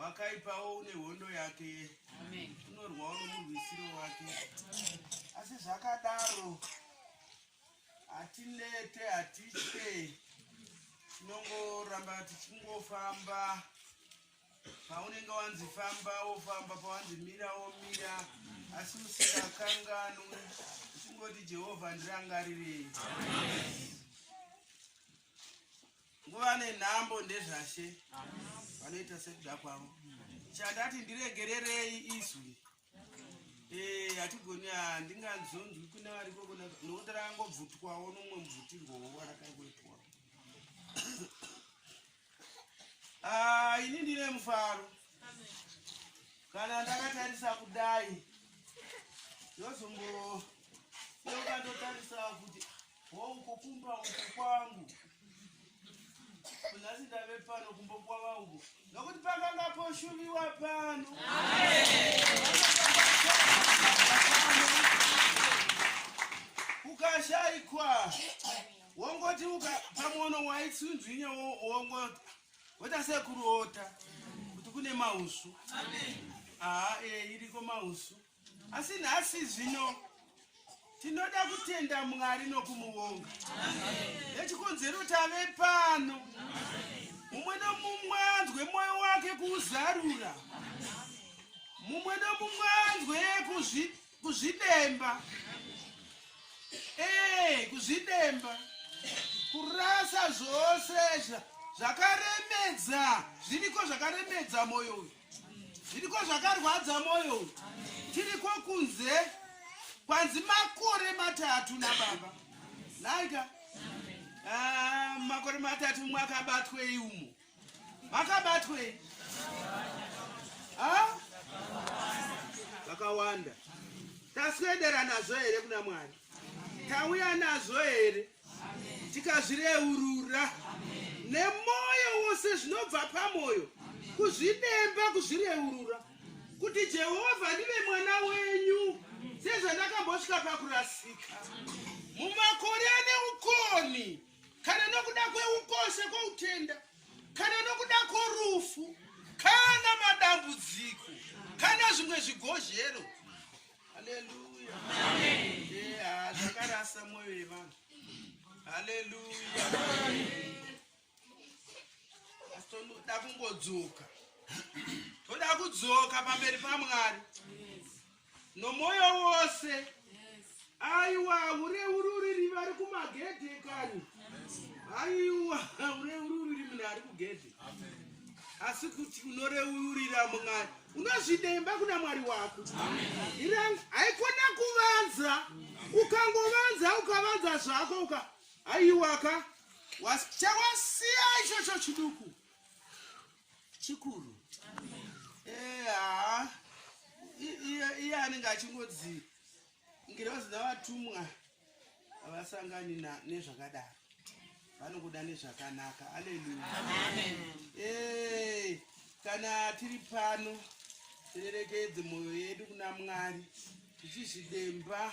Wakaipawo une hondo yake, unorwawo nomurwisiro wake. Asi zvakadaro hatinete, hatitye, tinongoramba tichingofamba. Paunenge wanzi famba wofamba, pawanzi mira womira, asi usingakanganwi, uchingoti Jehovha ndirangarirei. Nguva nenhambo ndezvashe vanoita sekuda kwavo. Chandati ndiregererei izwi eh, hatigoni ah, ndingazonzwi kune variko nokuti rakangobvutwawo nomumwe mubvuti ngowo warakangoitwa ah, ini ndine mufaro kana ndakatarisa kudai ndozombo ndokandotarisa kuti wo uko kumba uko kwangu kunhasi ndave pano kumba kwava uko nokuti pakanga poshuviwa pano ukashaikwa wongoti pamwono waitsunzwinya wongoti wota sekuruota kuti kune mausu haa ee iriko mausu ah, eh, Asi nhasi zvino tinoda kutenda Mwari nokumuonga nechikonzero tave pano, mumwe nomumwe anzwe mwoyo wake kuuzarura, mumwe nomumwe anzwe kuzvidemba ee eh, kuzvidemba kurasa zvose zvakaremedza zviriko zvakaremedza mwoyo uyu zviriko zvakarwadza moyo tiriko kunze kwanzi makore matatu nababa naika ah, makore matatu mwakabatwei umo makabatwei ah? vakawanda taswedera nazvo here kuna mwari tauya nazvo here tikazvireurura nemwoyo wose zvinobva pamwoyo kuzvidemba kuzvireurura kuti jehovha ndive mwana wenyu sezvandakambosvika pakurasika mumakore ane ukoni kana nokuda kweukosha kwoutenda kana nokuda kworufu kana madambudziko kana zvimwe zvigozhero haleluya yeah, zvakarasa mwoyo yevanhu haleluya asi toda kungodzoka toda kudzoka pamberi pamwari nomwoyo wose aiwa ureururiri vari kumagedhe kani aiwa ureururiri munhu ari kugedhe asi kuti unoreurira mwari unozvidemba kuna mwari wako irani haikona kuvanza ukangovanza ukavanza zvako uka haiwaka chawasiya ichocho chiduku chikuru eha iye anenge achingodzi ngirozi navatumwa havasangani nezvakadaro vanokuda nezvakanaka aleluya hey, kana tiri pano tirerekedze mwoyo yedu kuna mwari tichizvidemba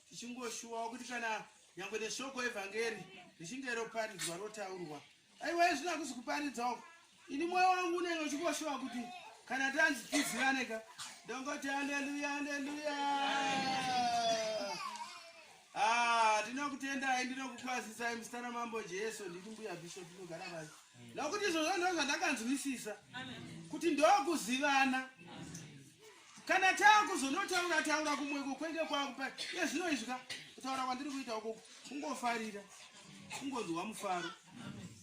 tichingoshuwawo kuti kana nyangwe neshoko evhangeri richinge roparidzwa rotaurwa aiwa izvino hakusi kuparidza uko ini mwoyo wangu unenge uchingoshuva kuti kana tanzi tizivane ka ndongoti aleluya aleluya ah, ndinokutendai ndinokukwazisai musitana mambo jesu nditi mbuya bishop inogara vasi nokuti izvozvo ndozvandakanzwisisa kuti ndokuzivana Amen. kana taakuzonotaura taura kumweko kwenge kwakupa iye zvino izvi ka kutaura kwandiri kuita ukoko kungofarira kungonzwa mufaro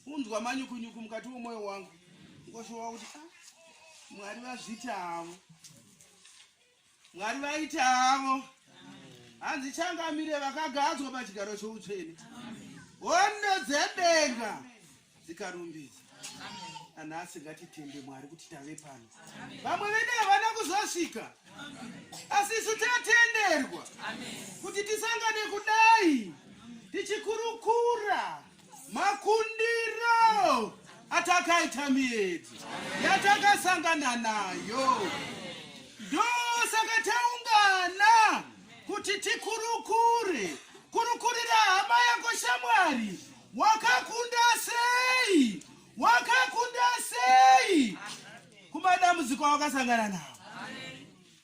unzwa manyukunyuku mukati wemwoyo wangu ngoshowa kuti ah, mwari vazviti havo mwari vaiti havo hanzi changamire vakagadzwa pachigaro choutsvene hondo dzedenga dzikarumbidzwa nanhasi ngatitende mwari kuti tave pano vamwe vedu havana kuzosvika asi isu tatenderwa kuti tisangane kudai tichikurukura makundiro atakaita miyedzo yatakasangana nayo ndosaka taungana kuti tikurukure kurukurira hama yako shamwari Wakakunda sei? Wakakunda sei? Kumadambudziko awakasangana nawo.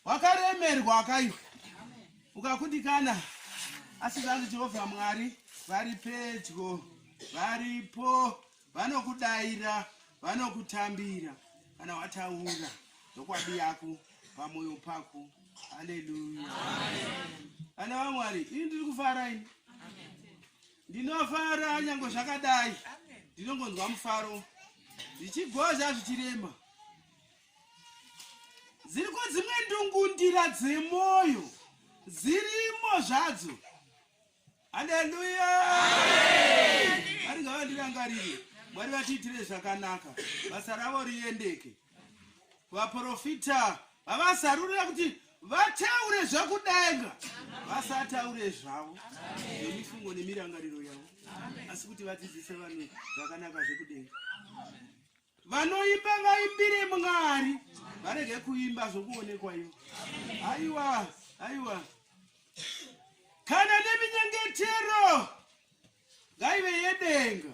Wakaremerwa wakaiwa. Ukakundikana asi zvanzi Jehovha Mwari vari pedyo, varipo, vanokudaira, vanokutambira kana wataura zvokwadi yako pamwoyo pako. Haleluya. Vana vaMwari, ini ndiri kufara ini. ndinofara nyange zvakadai ndinongonzwa mufaro zvichigozha zvichirema dziriko dzimwe ndungundira dzemwoyo dzirimo zvadzo haleluya vari ngavandirangarire mwari vatiitire zvakanaka basa ravo riendeke vaprofita vavasarurira kuti vataure zvakudenga vasataure zvavo nemifungo nemirangariro yavo asi kuti vadzidzise vanhu zvakanaka zvekudenga vanoimba vaimbire mwari varege kuimba zvokuonekwa ivo aiwa aiwa kana neminyengetero ngaive yedenga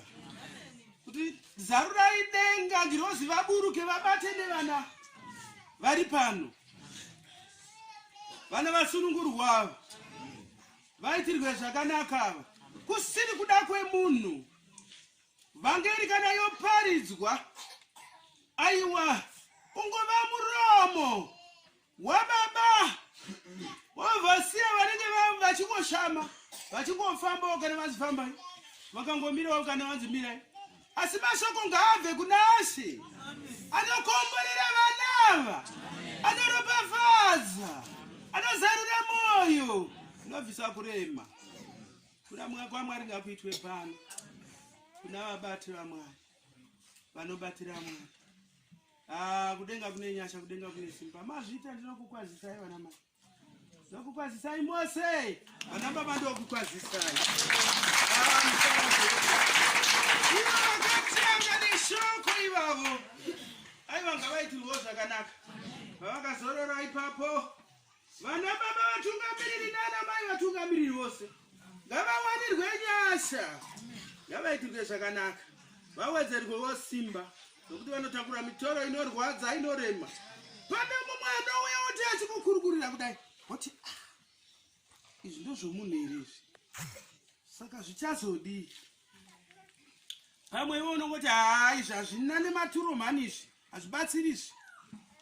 kuti zarurai denga ngirozi vaburuke vabate nevana vari pano vana vasunungurwa ava vaitirwe zvakanaka ava kusiri kuda kwemunhu vhangeri kana yoparidzwa aiwa ungova muromo wababa wavasiya vanenge vachingoshama vachingofambawo kana vanzi fambai vakangomirawo kana vanzi mirai asi mashoko ngaabve kuna asi anokomborera vana ava anoropafadza anozarura mwoyo anobvisa kurema kuramwa kwamwari ngakuitwe pano kuna vabati vamwari vanobatira mwari Ah, kudenga kune nyasha kudenga kune simba mazvita ndinokukwazisai vana mai ndokukwazisai mose vana baba ndokukwazisai ivo vakatanga neshoko ivavo aivanga vaitirwo zvakanaka vavakazorora ipapo Vana baba vatungamiriri nana mai vatungamiriri vose ngavawanirwe nyasha ngavaitirwe zvakanaka vawedzerwewo simba nokuti vanotakura mitoro inorwadza inorema pane mumwe anouya oti achikukurukurira kudai woti ah, izvi ndozvomunhu here izvi saka zvichazodii pamwe iwe unongoti haa izvi hazvina nematuro mhani izvi hazvibatsiri izvi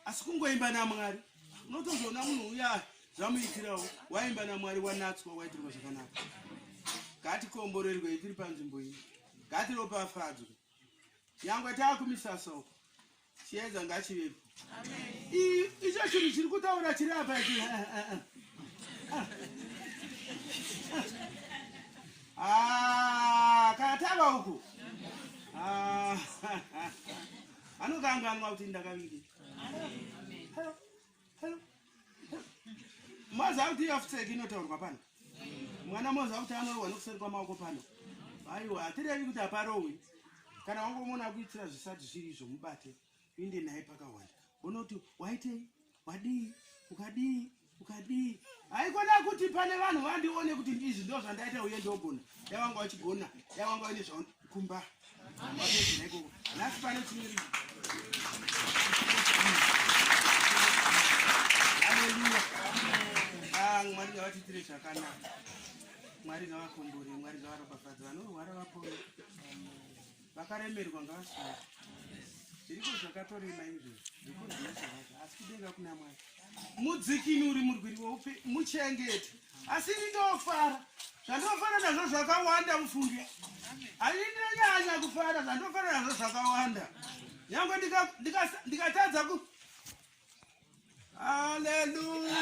asi kungoimba namwari unotozoona munhu uya zvamuitirawo waimba namwari wanatswa waitirwa zvakanaka ngatikomborerwei tiri panzvimbo iyi ngatiropafadzwe nyangwe taakumisasa uko chiedza ngachivepo icho chinhu chiri kutaura chiri apa ichi ah, katava uku ah, anokanganwa kuti ndakaviri maziva kuti iafuseki inotaurwa pano mwana moziva kuti anorohwa nokuseri kwamaoko pano aiwa hatirevi kuti haparohwi kana wangomona akuitira zvisati zviri izvo mubate uinde naye pakawanda unoti waitei wadii ukadii ukadii haikona kuti pane vanhu vandione kuti ndizvi ndo zvandaita uye ndogona dai wanga wachigona dai wanga waine zvakumba mwari ngavatiitire zvakanaka mwari ngavakombore mwari ngavaropafadza vanorwara vapore vakaremerwa ngavasvaa zviriko zvakatorema izvo zvikuzvinazvavaka asi kudenga kuna mwari mudzikinuri murwiri weupe muchengete asi ini ndofara zvandofara nazvo zvakawanda mufungi haii ndinonyanya kufara zvandofara nazvo zvakawanda nyange ndikatadza ku haleluya